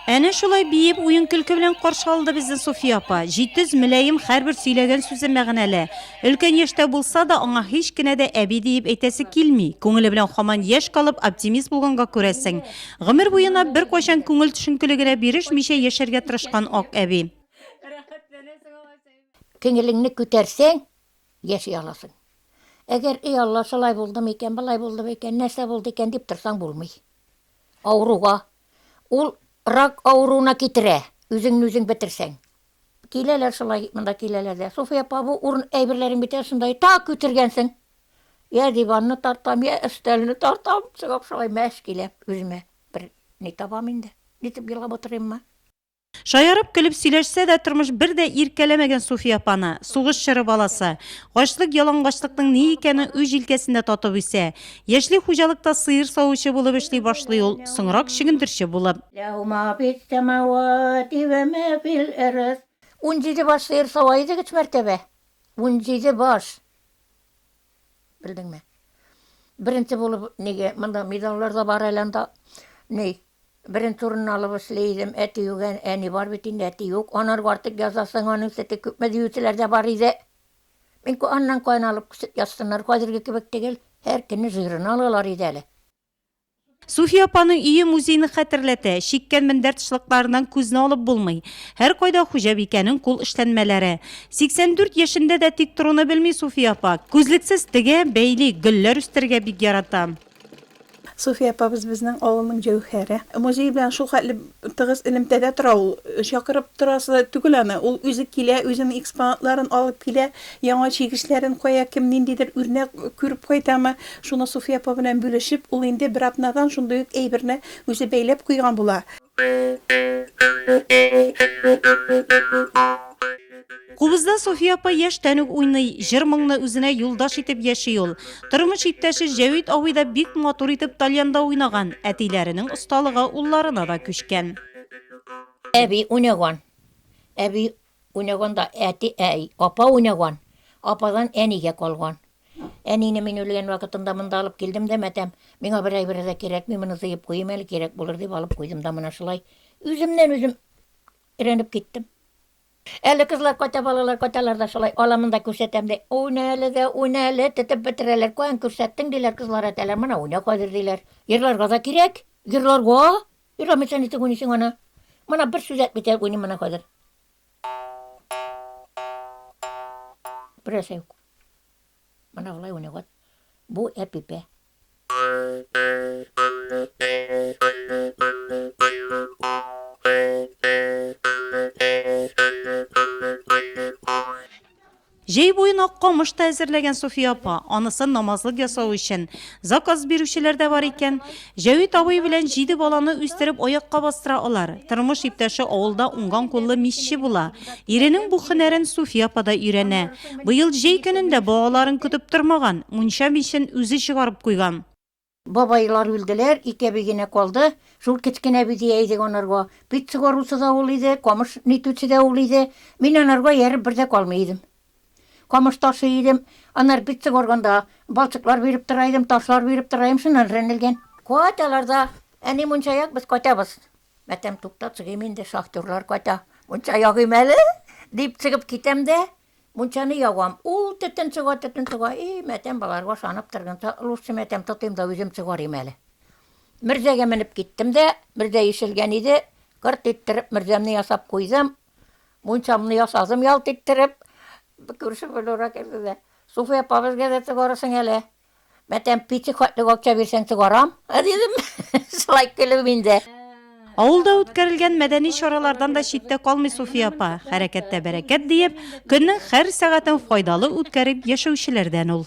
Әнә шулай биеп, уен-көлке белән каршы алды безне Суфия апа. Җитез, мөлаем, һәрбер сөйләгән сүзе мәгънәле. Өлкән яшьтә булса да, аңа һич кенә дә әби диеп әйтәсе килми. Күңеле белән хаман яшь калып, оптимист булганга күрәсең. Гомер буена беркайчан күңел төшенкелегенә бирешмичә яшәргә тырышкан ак әби. Күңелеңне күтәрсәң, яши аласың. Әгәр, эй Алла, шулай булдымы икән, болай булдымы икән, нәрсә булды икән, дип торсаң, булмый. Авыруга, ул рак авыруына китерә, үзеңне үзең бетерсәң. Киләләр шулай, монда киләләр дә. Суфия апа, бу урын әйберләрең бит шунда, так күтергәнсең. Я диванны тартам, я өстәлне тартам, чыгам шулай мәш киләм, үземә бер ни табам инде, ничек елап утырыйммы. Шаярып, көлеп сөйләшсә дә, тормыш бер дә иркәләмәгән Суфия апаны. Сугыш чоры баласы. Ачлык-ялангачлыкның ни икәнен үз җилкәсендә татып үсә. Яшьли хуҗалыкта сыер савучы булып эшли башлый ул, соңрак чөгендерче булып. Унҗиде баш сыер сава идек өч мәртәбә. Унҗиде баш. Белдеңме? Беренче булып, нигә, монда медальләр дә бар әле анда. Ни, Беренче урынны алып эшли идем. Әти юк, әни бар бит инде, әти юк. Анарга артык язасың, аның сөте күпме диючеләр дә бар иде. Мин ку аннан кайны алып күчеп язсыннар, хәзерге кебек тегел, һәр көнне жирен алалар иде әле. Суфия апаның өе музейны хәтерләтә. Чиккән мендәр тышлыкларыннан күзне алып булмый. Һәркайда хуҗабикәнең кул эшләнмәләре. 84 яшендә дә тик торуны белми Суфия апа. Күзлексез тегә, бәйли, гөлләр үстерергә бик ярата. Суфия апабыз безнең авылның җәүһәре. Музей белән шул хәтле тыгыз элемтәдә тора ул. Чакырып торасы түгел аны. Ул үзе килә, үзенең экспонатларын алып килә, яңа чигешләрен кая кем ниндидер үрнәк күреп кайтамы, шуны Суфия апа белән бүлешеп, ул инде бер атнадан шундый ук әйберне үзе бәйләп куйган була. Кубызда София апа яшьтән үк уйный, җыр-моңны үзенә юлдаш итеп яши ул. Тормыш иптәше Җәвит абый да бик матур итеп тальянда уйнаган, әтиләренең осталыгы улларына да күчкән. Әби уйнаган. Әби уйнаганда әти, ә, апа уйнаган. Ападан әнигә калган. Әнине мин үлгән вакытында монда алып килдем дә, мәтәм, миңа бер әйбер дә кирәкми, моны тыеп куйыйм әле, кирәк булыр дип алып куйдым да, менә шулай үземнән үзем өйрәнеп киттем. Әле кызлар кайта, балалар кайталар да шулай, аламын да күрсәтәм, ди. Уйна әле дә, уйна әле, тетеп бетерәләр. Каян күрсәттең, диләр, кызлар әтәләр, менә уйна хәзер, диләр. Җырларга да кирәк, җырларга! Җырламыйча ничек уйныйсың аны? Мына бер сүз әйтмичә уйныйм менә хәзер. Берәрсә юк. Менә болай уйный вот. Бу әпипә. Җәй буен ак камыш та әзерләгән Суфия апа. Анысын намазлык ясау өчен заказ бирүчеләр дә бар икән. Җәвит абый белән җиде баланы үстереп аякка бастыра алар. Тормыш иптәше авылда уңган куллы мичче була. Иренең бу һөнәрен Суфия апа да өйрәнә. Быел җәй көнен дә балаларын көтеп тормаган, мунча мичен үзе чыгарып куйган. Бабайлар үлделәр, ике әби генә калды. Шул кечкенә әби дия идек анарга. Печ сугаручы да ул иде, камыш нитүче дә ул иде. Мин анарга ияреп бер дә калмый идем. Камыш ташый идем, аннары битцик арганда балчыклар биреп тора идем, ташлар биреп тора идем, шуннан рәнелгән. Кайталар да, әни мунча як, без кайтабыз. Мәтәм, тукта, чыгыйм инде, шахтерлар кайта, мунча ягыйм әле, дип чыгып китәм дә, мунчаны ягам. Ул төтен чыга, төтен чыга, и, мәтәм, боларга ышанып торганчы, лучше, мәтәм, тотыйм да үзем чыгарыйм әле. Мөрзәгә менеп киттем дә, мөрзә ишелгән иде, кырт иттереп мөрзәмне ясап куйдым, Мунчамны ясадым ялт иттереп. Күрше Флюра килде дә. Суфия апа, безгә дә тыгарырсың әле. Мәтәм пети хәтлек акча бирсәң тыгарам, дидем. Шулай көлеп инде. Авылда үткәрелгән мәдәни чаралардан да читтә калмый Суфия апа. Хәрәкәттә бәрәкәт диеп, көннең һәр сәгатен файдалы үткәреп яшәүчеләрдән ул.